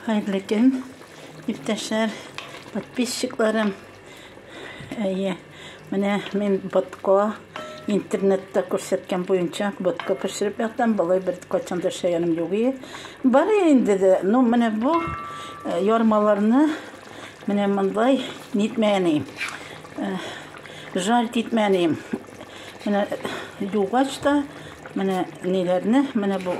Хәерле көн, иптәшләр, подписчикларым. Әйе, менә мин ботко интернетта күрсәткән буенча ботко пешереп яттым. Болай бер качан да эшләгәнем юк ие. Бар инде дә, ну менә бу э, ярмаларны менә мондай нитмәгән э, Жаль титмәгән ием. Менә югач та менә ниләрне, менә бу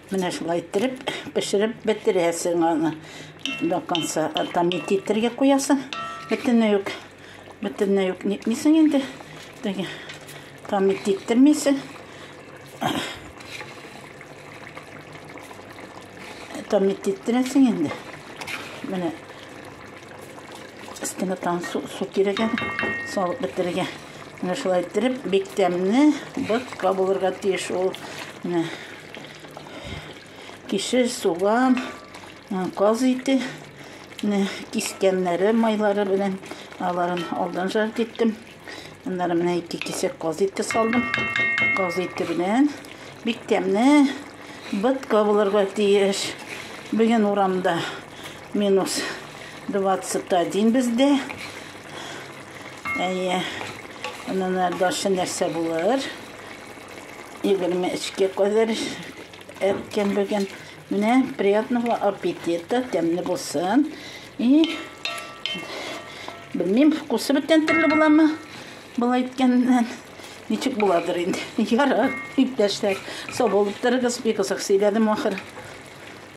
Менә шулай иттереп пешереп бетерәсең аны. До конца там титергә куясың. Бөтенләй үк бөтенләй үк нитмисең инде. Теге там титтермисең. Там титтерәсең инде. Менә өстенә там су, су кирәк әле. Салып бетерергә. Менә шулай иттереп бик тәмле ботка булырга тиеш ул. Менә Кишер, суган, каз ите, кискәннәре, майлары белән аларын алдан жарт иттем. Аннары менә ике кисәк каз ите салдым. Каз ите белән бик тәмле бытка булырга тиеш. Бүген урамда минус 21 бездә. Әйе. Аннары дальше нәрсә булыр? Егерме өчкә кадәр әрткән бүген. Менә приятного аппетита, тәмле булсын. И Белмим, вкусы бүтән төрле буламы? Болай иткәннән. Ничек буладыр инде. Ярар, иптәшләр, сау булып торыгыз, бик озак сөйләдем ахыр.